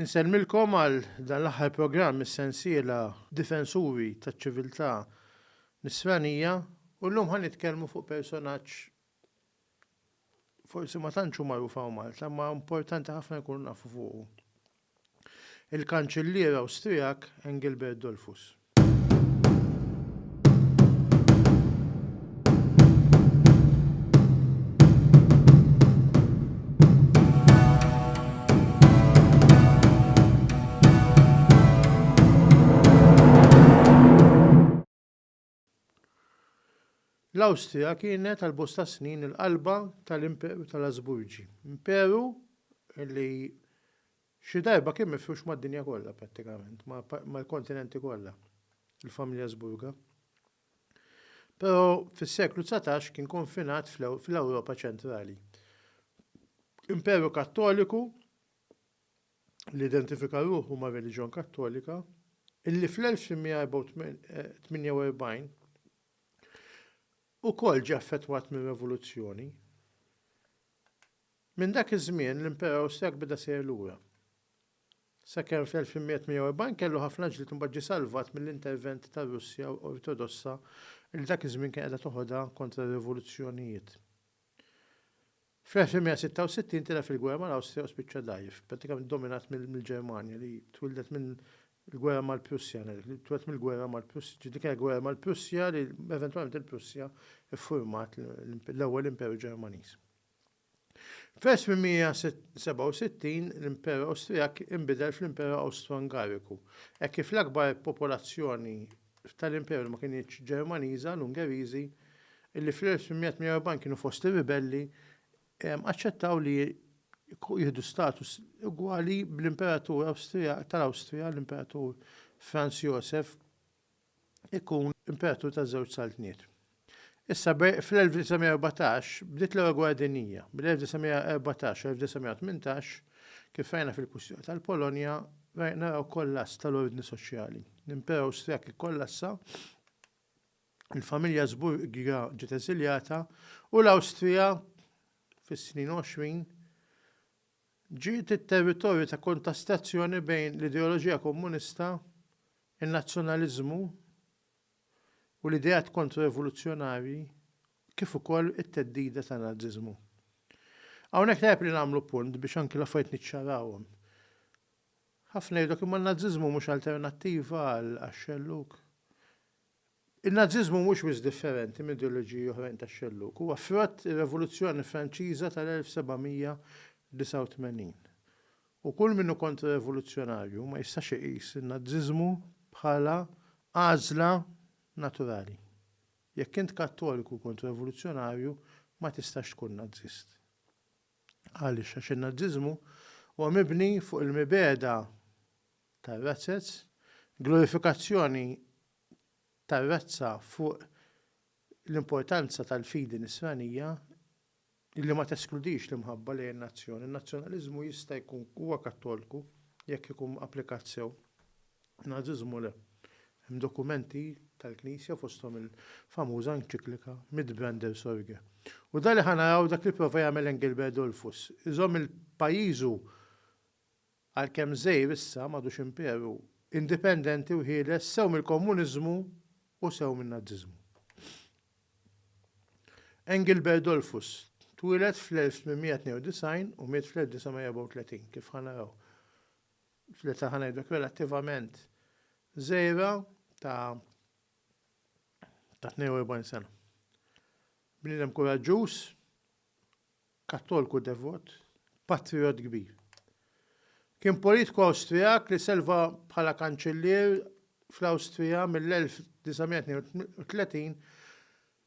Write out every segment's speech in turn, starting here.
Insellmilkom għal dan l-aħħar programm mis-sensiela Difensuri taċ-Ċiviltà Nisranija u llum ħa nitkellmu fuq personaġġ forsi ma tantx hu magħruf hawn Malta, imma importanti ħafna nkunu nafu fuqu. Il-Kanċillier Awstrijak Engelbert Dollfuss. L-Awstrija kienet għal bosta snin il-qalba tal-Imperu tal-Asburgi, imperu li Xi darba kien mifrux mad-dinja kollha prattikament, mal-kontinenti kollha, il-familja Asburga. Però fis-seklu dsatax kien konfinat fl-Ewropa ċentrali. Imperu Kattoliku li identifika ruħu mar-reliġjon Kattolika, illi fl-1848 ukoll ġie affettwat mir-revoluzzjoni. Minn dak iż-żmien l-Imperu Awstrijak beda sejjer lura. Sakemm fl-1840 kellu ħafna ġlied u mbagħad ġie salvat mill-intervent tar-Russja Ortodossa li dak iż-żmien kien qiegħda toħodha kontra r-rivoluzzjonijiet. Fl-1866 tilgħab fil-gwerra mal-Awstrija u spiċċa dgħajjef, prattikament dominat mill-Ġermanja li twieldet minn l-gwerra mal-Prussja, li tweldet mill-gwerra mal-Prussja, ġifieri dik kienet gwerra mal-Prussja li eventwalment il-Prussja ffurmat l-ewwel Imperu Ġermaniż. Fl-1867 l-Imperu Awstrijak inbidel fl-Imperu Awstro-Ungariku. Hekk kif l-akbar popolazzjoni tal-Imperu ma kinitx Ġermaniża, l-Ungeriżi, li fl-1848 kienu fost ir-ribelli, aċċettaw li jieħdu status ugwali bl-Imperatur tal-Awstrija, l-Imperatur Franz Joseph ikun Imperatur taż-Żewġ Saltniet. Issa fl-1914 bdiet l-Ewwel Gwerra Dinjija. Mill-1914 sa 1918, kif rajna fil-kwistjoni tal-Polonja, naraw kollass tal-ordni soċjali. L-Imperu Awstrijak ikkollassa, il-familja Asburga ġiet eżiljata u l-Awstrija fis-snin 20 Ġiet it-territorju ta' kontastazzjoni bejn l-ideoloġija komunista, in-nazzjonaliżmu u l-ideat kontro-rivoluzzjonarji kif ukoll it-theddida tan-Naziżmu. Hawnhekk tajjeb li nagħmlu punt biex anki l-affarijiet niċċarawhom. Ħafna jgħidlok imma n-Naziżmu mhux alternattiva għax-xellug. In-Naziżmu mhux wisq differenti m'ideoloġiji oħrajn tax-xellug. Huwa frott ir-Revoluzzjoni Franċiża tal-1789. U kull min hu kontra-revoluzzjonarju ma jistax iqis in-Naziżmu bħala għażla naturali. Jekk int Kattoliku u kontra-revoluzzjonarju, ma tistax tkun Naziżt. Għaliex? Għax in-Naziżmu huwa mibni fuq il-mibegħda tar-razez, glorifikazzjoni tar-razza fuq l-importanza tal-fidi Nisranija li ma teskludix l-imħabba lejn in-nazzjon. In-nazzjonaliżmu jista' jkun huwa Kattolku jekk ikun applikat sew, in-Naziżmu le. Hemm dokumenti tal-Knisja fosthom il-famuża enċiklika Mit Brander Sorge. U dan li ħa naraw dak li pprova jagħmel Engelbert Dollfuss, iżomm il-pajjiżu Għalkemm Żgħir issa m'għadux imperu, indipendenti u ħieles sew mill-Komuniżmu u sew min-Naziżmu. Engelbert Dollfuss twieled fl-1892 u miet fl-1934, kif ħa naraw fl-età ħa ngħidlek relattivament żgħira ta' ta' 42 sena. Bniedem kuraġġuż, Kattolku devot, patrijott kbir. Kien politiku Awstrijak li serva bħala kanċillier fl-Awstrija mill-1932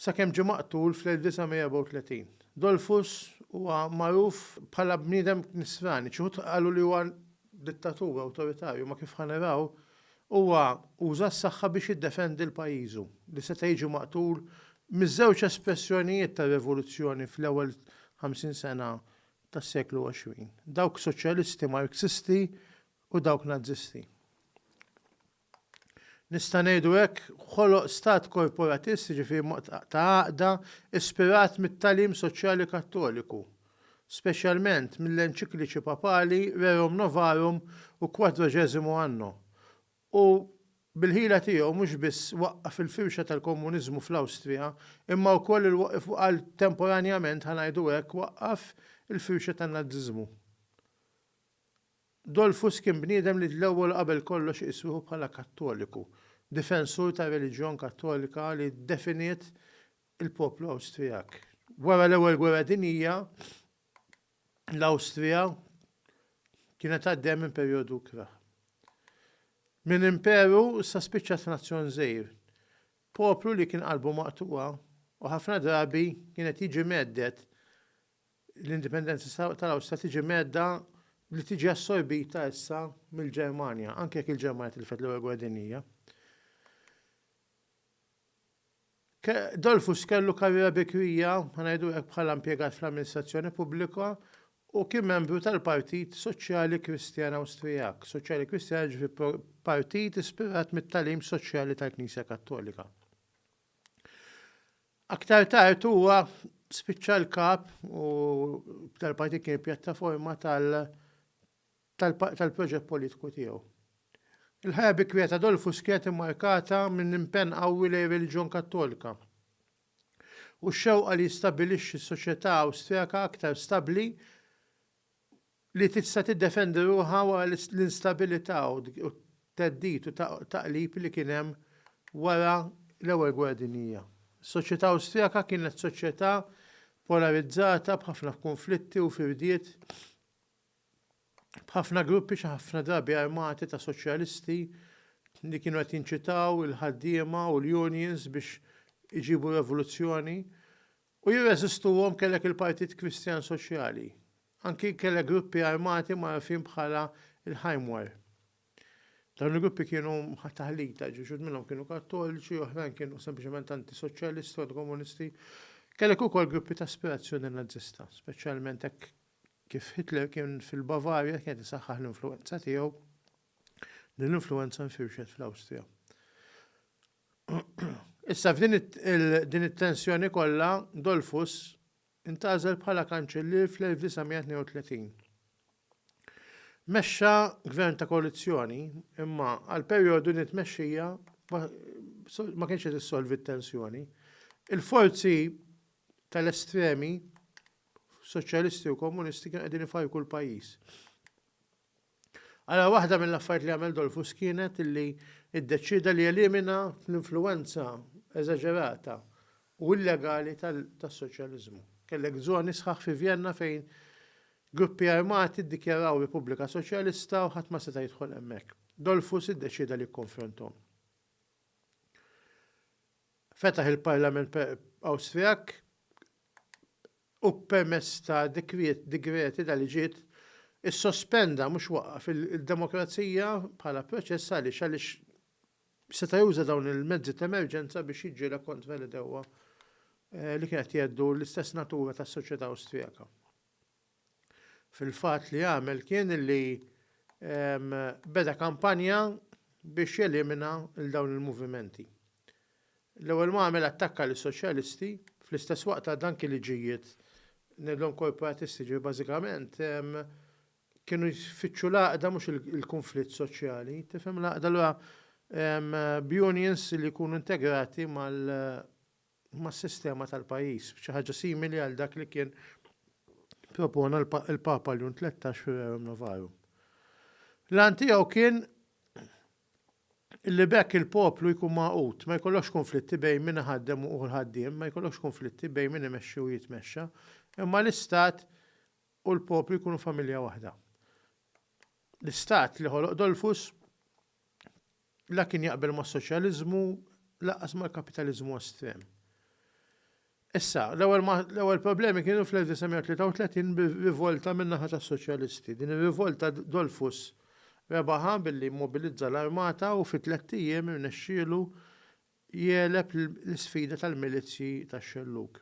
sakemm ġie maqtul fl-1934. Dollfuss huwa magħruf bħala bniedem Nisrani, xi wħud qalu li huwa dittatur awtoritarju ma kif ħa naraw, huwa uża s-saħħa biex jiddefendi 'l pajjiżu, li seta' jiġi maqtul miż-żewġ espressjonijiet tar-revoluzzjoni fl-ewwel ħamsin sena tas-seklu għoxrin, dawk soċjalisti Marxisti u dawk Nazisti. nista' ngħidu hekk, ħoloq stat korporatist, jiġifieri mod ta' għaqda, ispirat mit-tagħlim soċjali Kattoliku, speċjalment mill-enċikliċi papali Rerum Novarum u Quadragesimo Anno, u bil-ħila tiegħu mhux biss waqqaf il-firxa tal-komuniżmu fl-Awstrija, imma wkoll għal temporanjament, ħa ngħidu hekk, waqqaf il-firxa tan-Naziżmu. Dolfus kien bniedem li l-ewwel u qabel kollox iqis ruħu bħala Kattoliku, difensur tar-reliġjon Kattolika li ddefiniet il-poplu Awstrijak. Wara l-Ewwel Gwerra Dinjija, l-Awstrija kienet għaddejja minn perjodu ikrah. Minn imperu issa spiċċat f'nazzjon żgħir, poplu li kien qalbu maqtugħa u ħafna drabi kien qed jiġi mhedded L-indipendenza tal-Awstrija tiġi mhedda li tiġi assorbita issa mill-Ġermanja, anke jekk il-Ġermanja tilfet l-Ewwel Gwerra Dinjija. Dollfuss kellu karriera bikrija, ngħidu hekk bħala impjegat fl-amministrazzjoni pubblika u kien membru tal-Partit Soċjali Kristjan Awstrijak. Soċjali Kristjan ġifi partit ispirat mit-tagħlim soċjali tal-Knisja Kattolika. Aktar tard huwa spiċċa l-kap u b'dal partit kien il-pjattaforma tal tal-proġett politiku tiegħu. Il-ħajja bikrija ta' Dolfus kienet immarkata minn impenn qawwi lejn ir-reliġjon Kattolika u x-xewqa li jistabbilixxi soċjetà Awstrijaka aktar stabbli li tista' tiddefendi ruħha wara l-instabilità u t-theddid u t-taqlib li kien hemm wara l-Ewwel Gwerra Dinjija. Is-soċjetà Awstrijaka kienet soċjetà polarizzata b'ħafna kunflitti u firdiet b'ħafna gruppi xi ħafna drabi armati ta' soċjalisti li kienu qed jinċitaw il-ħaddiema u l-unions biex iġibu revoluzzjoni U jirreżistuhom kellek il-Partit Kristjan Soċjali. Anki kellek gruppi armati magħrufin bħala l-Heimwehr. Dawn il-gruppi kienu taħlita, ġifieri xhud minnhom kienu Kattoliċi, oħrajn kienu sempliċement anti-soċjalisti u anti-komunisti. Kellek ukoll gruppi ta' aspirazzjoni Nazzista, speċjalment hekk kif Hitler kien fil-Bavarja kienet isaħħaħ l-influwenza tiegħu, din l-influwenza nfirxet fl-Awstrija. Issa f'din din it-tensjoni kollha, Dollfuss intgħażel bħala Kanċillier fl-1932. Mexxa gvern ta' koalizzjoni, imma għal perjodu din it-tmexxija ma kienx qed issolvi t-tensjoni. Il-forzi tal-estremi soċjalisti u komunisti kienu qegħdin ifajku l-pajjiż. Ara waħda mill-affarijiet li għamel Dollfuss kienet li ddeċieda li jelimina l-influwenza eżaġerata u illegali tas-soċjaliżmu. Kellek żoni sħaħ fi Vjenna fejn gruppi armati ddikjaraw Repubblika Soċjalista u ħadd ma seta' jidħol hemmhekk. Dollfuss iddeċieda li jikkonfronthom. Fetaħ il-Parlament Awstrijak u permezz ta' dikriet, digreti, ta' liġijiet, issospenda, mhux waqqaf, il-demokrazija bħala proċess għaliex għaliex seta' juża dawn il-mezzi ta' emerġenza biex jiġġieled kontra l-għedewwa eh, li kien qed jgħeddu l-istess natura tas-soċjetà Awstrijaka. Fil-fatt li għamel kien li beda kampanja biex jelimina l-dawn il-movimenti. L-ewwel mgħamel attakka lis-soċjalisti, fl-istess waqt għad anki li ġijiet ngħidlhom korporatisti, ġifieri bażikament kienu jfittxu l-għaqda mhux il-kunflitt soċjali, tifhem l-għaqda allura b'unions li jkunu integrati mas-sistema tal-pajjiż, xi ħaġa simili għal dak li kien propona l-Papa Ljun Tlettax fir-Rerum Novarum. L-għan tiegħu kien li b'hekk il-poplu jkun magħqud, ma jkollokx kunflitti bejn min iħaddem u l-ħaddiem, ma jkollokx kunflitti bejn min imexxi u jitmexxa, imma l-Istat u l-poplu jkunu familja waħda. L-Istat li ħoloq Dollfuss la kien jaqbel mas-soċjaliżmu lanqas mal-kapitaliżmu estrem. Issa, l-ewwel problemi kienu fl-1933 bi rivolta min-naħa tas-Soċjalisti. Din ir-rivolta Dollfuss rebaħha billi mmobilizza l-armata u fi tlett ijiem irnexxielu jegħleb l-isfida tal-milizzji tax-xellug.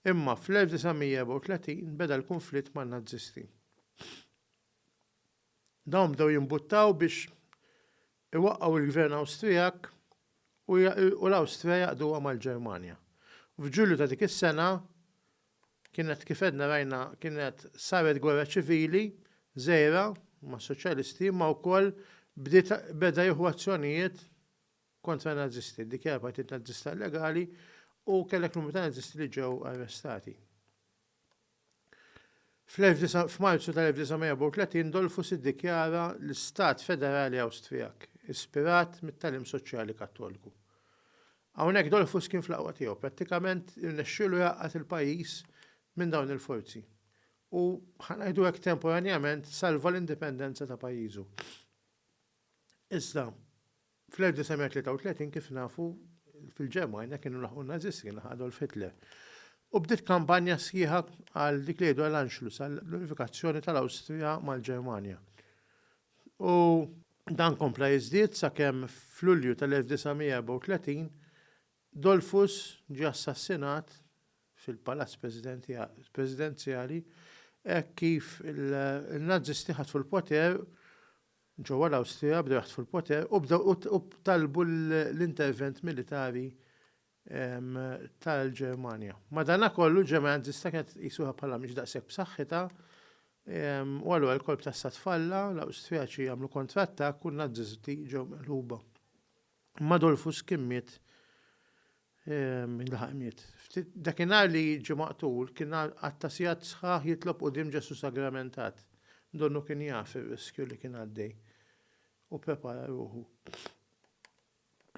Imma fl-1934 beda l-kunflitt man-Nażisti. Dawn bdew jimbuttaw biex Iwaqqgħu l-Gvern Awstrijak u u l-Awstrija jaqduha mal-Ġermanja. F'Ġulju ta' dik is-sena, kienet kif għedna rajna kienet saret gwerra ċivili żgħira mas-Soċjalisti imma wkoll bdiet beda jieħu azzjonijiet kontra n-Nazisti, ddikjara l-Partit Nazista illegali u kellek numru ta' Nazisti li ġew arrestati. F'Marzu tal-1934 Dollfuss iddikjara l-Stat Federali Awstrijak, ispirat mit-tagħlim soċjali Kattolku. Hawnhekk Dollfuss kien fl-aqwa tiegħu, prattikament irnexxielu jgħaqqad il-pajjiż minn dawn il-forzi u, ħa ngħidu hekk temporanjament, salva l-indipendenza ta' pajjiżu. Iżda, Fl-1933, kif nafu, fil-Ġermanja kienu laħqu n-Nazisti, kien laħaq Adolf Hitler. U bdiet kampanja sħiħa għal dik li jgħidu għal Anschluss, għall-unifikazzjoni tal-Awstrija mal-Ġermanja. U dan kompla jiżdied sakemm f'Lulju tal-1934 Dollfuss ġie assassinat fil-Palazz Presidenzjali hekk kif in-Nazisti ħatfu l-poter Ġewwa l-Awstrija bdew jaħtfu l-poter u bdew u talbu l-intervent militari tal-Ġermanja. Madanakollu ġermanja Nazista kienet tqis ruħha bħala mhix daqshekk b'saħħitha u allura l-kolp tas-sat falla, l-Awstrijaċi għamlu kontrattakk u n-Nazisti ġew meqluba. Imma Adolphus kien miet mindaħaq miet. Dakinhar li jiġi maqtul kien għad ta' sigħat sħaħ jitlob quddiem Ġesù sagramentat. Donnu kien jaf ir-riskju li kien għaddej u pprepara ruħu.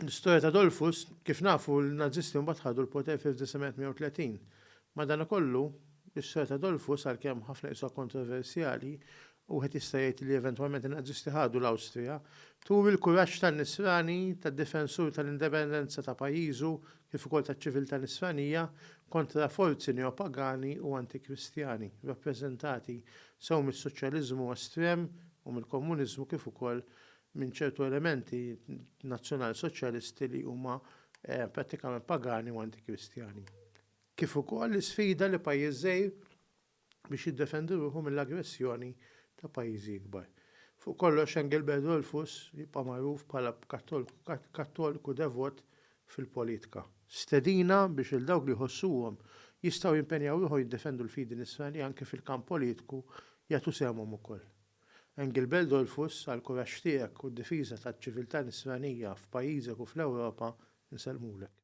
L-istorja ta' Adolphus, kif nafu l-Nazisti mbagħad ħadu l-poter fil-1930. Madankollu, l-istorja ta' Adolphus għalkemm ħafna qisuha kontroversjali, Wieħed jista' jgħid li eventwalment in-Nazisti ħadu l-Awstrija. Turi l-kuraġġ tan-Nisrani, tad-difensur tal-indipendenza ta' pajjiżu kif ukoll taċ-ċiviltà Nisranija kontra forzi neopagani u antikristjani, rappreżentati sew mis-soċjaliżmu estrem u mill-komuniżmu kif ukoll minn ċertu elementi nazzjonalsoċjalisti li huma prattikament pagani u antikristjani. Kif ukoll l-isfida li pajjiż żgħir, biex jiddefendi ruħu mill-aggressjoni ta' pajjiżi ikbar. Fuq kollox, Engelbert Dollfuss jibqa' magħruf bħala Kattoliku devot fil-politika. Stedina biex lil dawk li jħossuhom jistgħu jimpenjaw ruħhom jiddefendu l-fidi Nisranija anke fil-kamp politiku jagħtu sehemhom ukoll. Engelbert Dollfuss, għall-kuraġġ tiegħek u d-difiża taċ-ċiviltà Nisranija f'pajjiżek u fl-Ewropa, insellmulek.